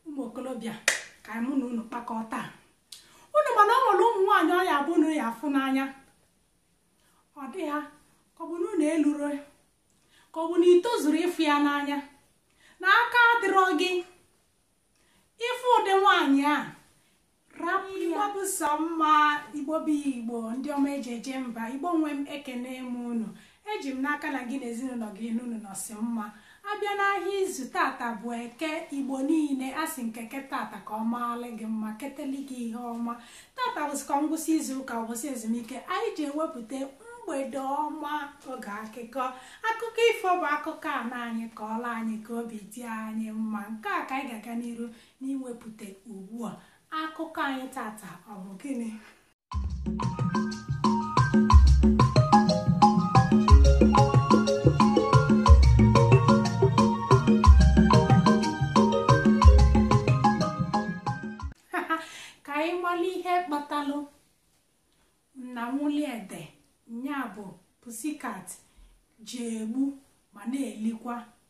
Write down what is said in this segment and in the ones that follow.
ụmụ okolobịa ka mụ na unu kpakọọ taa unu ma na o nwere ụmụ nwaanyị ọ ya abụ unu ya afụ n'anya ọ dị ha ka ọ bụ na unu eluro ka ọ bụ na i tozuro ịfụ ya n'anya na aka adịrọ gị ịfụ ụdị nwaanyị a bụ sọ mma igbo bụ igbo ndị ọma eji eje mba igbo nwe m ekene m unu eji m n'aka na gị na ezinụlọ gị n'unu nọsị mma a bịa n'ahịa izu tata bụ eke igbo niile a sị m ka eke tata ka ọ maala gị mma keteli gị ihe ọma tata bụsịkwa ngwụsị izu ụka ụbọchị ezumike anyị ji ewepụta mgbede ọma oge akụkọ akụkọ ifo bụ akụkọ nna anyị kọọla anyị ka obi dị anyị mma nke a ka anyị ga-aga n'iru n'iwepụta ugbu a akụkọ anyị tata ọ bụ gịnị ka anyị mara ihe kpatalụ nna nwuliede nya bụ pussycat ji egbu ma na-elikwa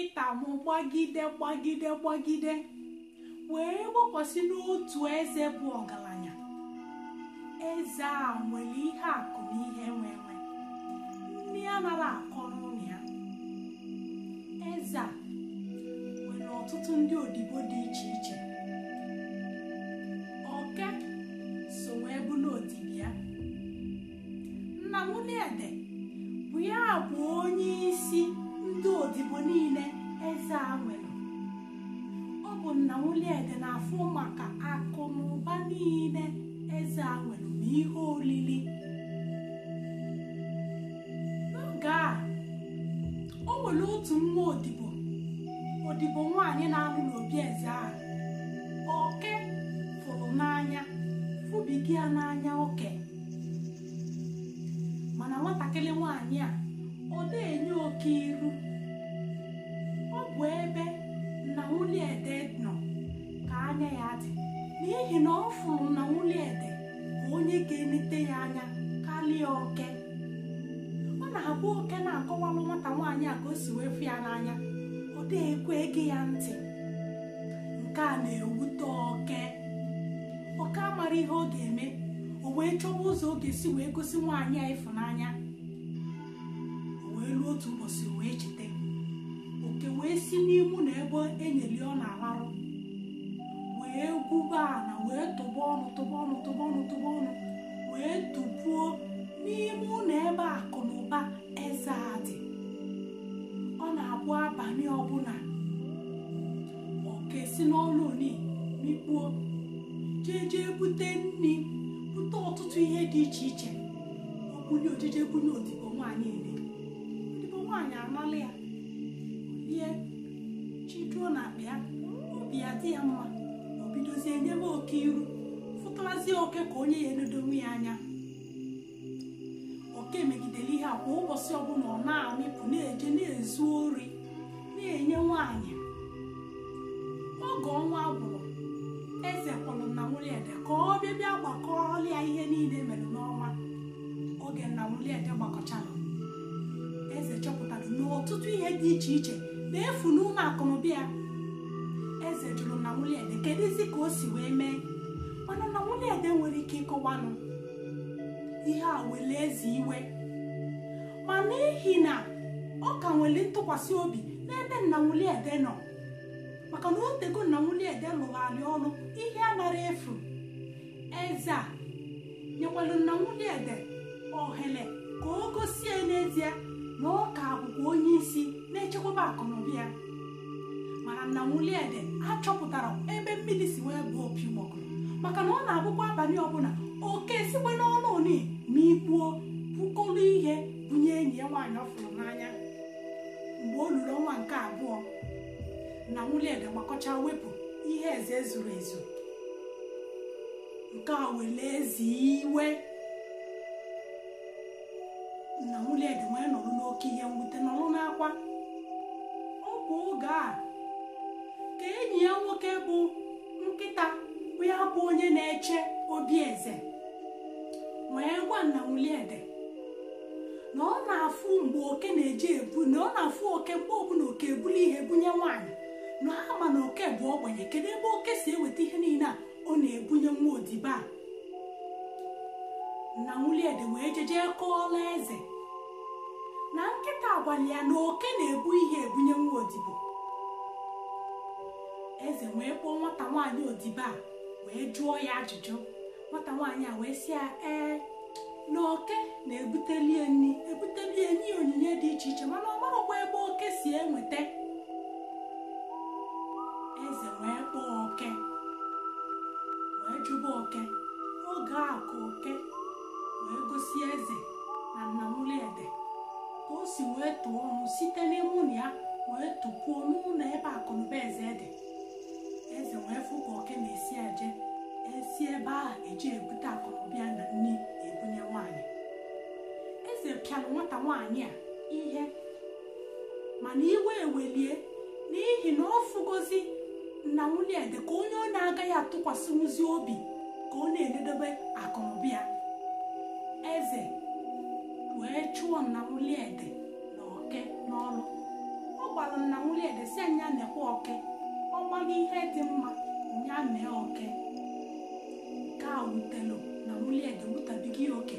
ịta m gbagide gbagide gbagide wee gbakwasị n'otu eze bụ ọgaranya eze a nwere ihe akụ na ihe enwe enwe nni anara akọ n'ụnọ ya eze a nwere ọtụtụ ndị odibo dị iche iche oke so wee bụrụ odibo ya nna nwuliede bụ ya bụ onye isi ndị odibo niile eze a nwere ọ bụ nna nwuliede na-afụ maka akụ na ụba niile eze a nwere na ihe olili n'oge a o nwere otu nwa odibo odibo nwaanyị na-anọ n'obi eze a oke fụrụ n'anya fụbiga ya n'anya oke mana nwatakịrị nwaanyị a ọ dịghị enye oke iru ọ bụ ebe nna nwuliede nọ ka anya ya dị n'ihi na ọ fụrụ nna nwuliede ka onye ga-enete ya anya karịa oke ọ na-abụ oke na-akọwalụ nwata nwaanyị a ka o si wee fụ ya n'anya ọ dịghị ekwe ege ya ntị nke a na-ewute oke oke amara ihe ọ ga-eme o wee chọwa ụzọ ọ ga-esi wee gosi nwaanyị a ịfụnanya o wee ruo otu ụbọchị wee cheta oke wee si n'ime ụnọ ebe e nyeli ya ọ na-alarụ wee gwuba ana wee tụba ọnụ tụba ọnụ tụba ọnụ tụba ọnụ wee tụpuo n'ime ụnọ ebe akụ na ụba eze a dị ọ na-abụ abalị ọbụla oke si n'ọnụ oni mikpuo jee jee bute nri bute ọtụtụ ihe dị iche iche o bunye o jeje bunye odibo nwaanyị ihe odibo nwaanyị anala ya ihe chiduo n'akpa ya obi adị ya mma o bidozie nyebe oke iru fụtarazie oke ka onye ya enedonwu ya anya oke megidere ihe a kwa ụbọchị ọbụla ọ na-amịpụ na-eje na-ezu ori na-enye nwaanyị oge ọnwa gwụrụ eze kpọrọ nna nwuliede ka ọ bịa bịa gbakọọla ya ihe niile mere n'ọnwa oge nna nwuliede gbakọchara eze chọpụtara na ọtụtụ ihe dị iche iche na-efu n'ụlọ akụnụba ya eze jụrụ nna nwuliede kedụzi ka o si wee mee mana nna nwuliede enwero ike ịkọwanụ ihe a wele eze iwe ma n'ihi na ọ ka nwere ntụkwasị obi n'ebe nna nwuliede nọ maka na o teego nna nwuliede lụbaalị ọlụ ihe anarọ efu eze a nyekwara nna nwuliede ohere ka o gosie n'ezie na ọ ka bụkwa onye isi na-echekwaba akụnụba ya mana nna nwuliede achọpụtarọ ebe mmiri si wee baa opi ụgbọgụrụ maka na ọ na-abụkwa abalị ọbụla oke sikwe n'ọnụ oni mikpuo bukọrọ ihe bunye enyi ya nwaanyị ọ fụrụ n'anya mgbe o luru ọnwa nke abụọ nna nwuliede gbakọcha wepụ ihe eze ezuro ezu nke a were eze iwe nna nwuliede wee nọrọ n'oke ihe mwute nọrọ n'akwa ọ bụ oge a ka enyi ya nwoke bụ nkịta bụ ya bụ onye na-eche obi eze wee gwa nna nwuliede na ọ na-afụ mgbe oke na-eje ebu na ọ na-afụ oke mgbe ọbụla oke ebuli ihe bunye nwaanyị na a ma na oke bụ ogbenye kedu ebe oke si eweta ihe niile a ọ na-ebunye nwa odibo a nna nwuliede wee jeje kọọla eze na nkịta agwala ya na oke na-ebu ihe ebunye nwa odibo eze wee kpọọ nwata nwaanyị odibo a wee jụọ ya ajụjụ nwata nwaanyị a wee sị ya ee na oke na-ebuteli ya nri ebuteli ya nye onyinye dị iche iche mana ọ marọkwa ebe oke si enweta eze wee kpọọ oke wee jụba oke oge a ka oke wee gosi eze na nna nwuliede ka o si wee tụọ ọnụ site n'ime ụlọ ya wee tụpuo n'ụlọ ebe akụnụba eze dị eze wee fụ ka oke na-esi eje esi ebe ahụ eji ebute akụnụba ya na nri ebunye nwaanyị eze pịara nwata nwaanyị a ihe mana iwe ewelie n'ihi na ọ fụgozi nna nwuliede ka onye ọ na-agaghị atụkwasịnwuzi obi ka ọ na-enedobe akụnụba ya eze wee chụọ nna nwuliede oke n'ọrụ ọ gwara nna nwuliede sị nya nekwa oke ọ gbaghị ihe dị mma ya mee oke nke a wutelu nna nwuliede wutabiga ya oke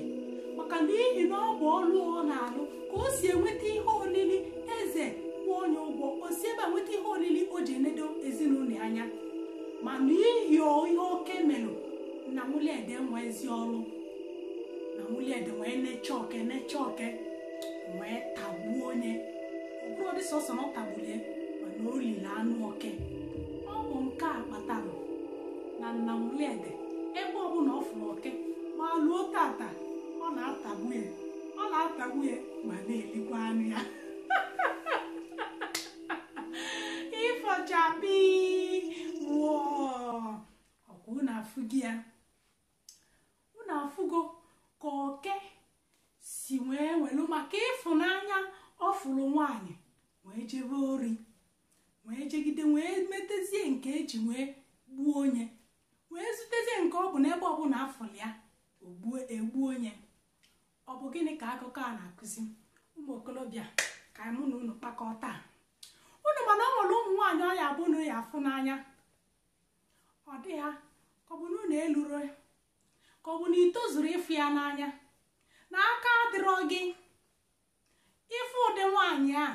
maka na n'ihi na ọ bụ ọrụ ọ na-alụ ka o si enweta ihe olili eze kwụọ nya ụgwọ o si ebe a nweta ihe olili o ji enedo ezinụlọ ya anya ma n'ihi ihe oke melụ nna nwuliede enwezi ọrụ nna nwuliede wee nechaa oke nechaa oke wee tagbuo nye ọ bụrọdị sọsọ na ọ tagbulie mana o liri anụ oke ọ bụ nke a kpatara na nna nwuliede ebe ọbụla ọ fụrụ oke ma luo tata ọ na-atagbu ya ọ na-atagbu ya ma na-elikwa anụ ya ifo chakpii wọọ ọkwa unu afụgo ya unu afụgo ka oke si wee welu maka ịfụnanya ọ fụrụ nwaanyị wee jebe ori wee jegide wee metezie nke e ji wee gbuo nye wee zutezie nke ọ bụ n'ebe ọbụla a fụrụ ya egbuo nye ọ bụ gịnị ka akụkọ a na-akụzi ụmụ okorobịa ka mụ na unu kpakọọ taa unu ma na ọ nwere ụmụ nwaanyị ọ ya-abụ unu ya-afụ n'anya ọ dị ya ka ọ bụ na unu eluro ka ọ bụ na i tozuro ịfụ ya n'anya na aka adịrọ gị ị fụ ụdị nwaanyị a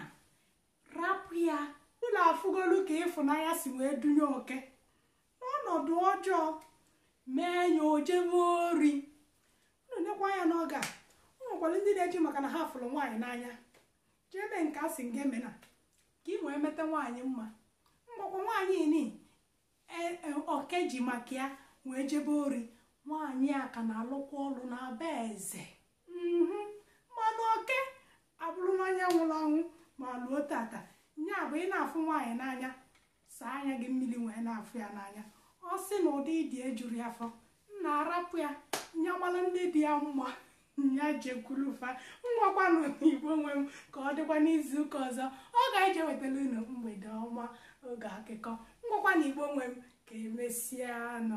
rapụ ya unu afụgolu ka ịfụnanya si wee dunye oke n'ọnọdụ ọjọọ mee nye o jebe ori unu nekwa anya n'oge a o nwekwara ndị na-eji maka na ha fụrụ nwaanyị n'anya jee mee nke a sị ngị emena ka ị wee meta nwaanyị mma mgbọkwọ nwaanyị nị oke ji maka ya wee jebe ori nwaanyị a ka na-alụkwa ọrụ na be eze mana oke abụrụ onye nwụrụ anwụ ma luo tata nya bụ ị na-afụ nwaanyị n'anya saa anya gị mmiri wee na-afụ ya n'anya ọ sị na ụdị ị dị ejuro ya afọ nnaa rapụ ya nya mara ndị dị ya mma nya jekwuru fa ngwakwanụ igbo nwe m ka ọ dịkwa n'izu ụka ọzọ ọ ga-eje wetara unu mgbede ọma oge akụkọ ngwakwanụ igbo nwe m ka emesịa nụ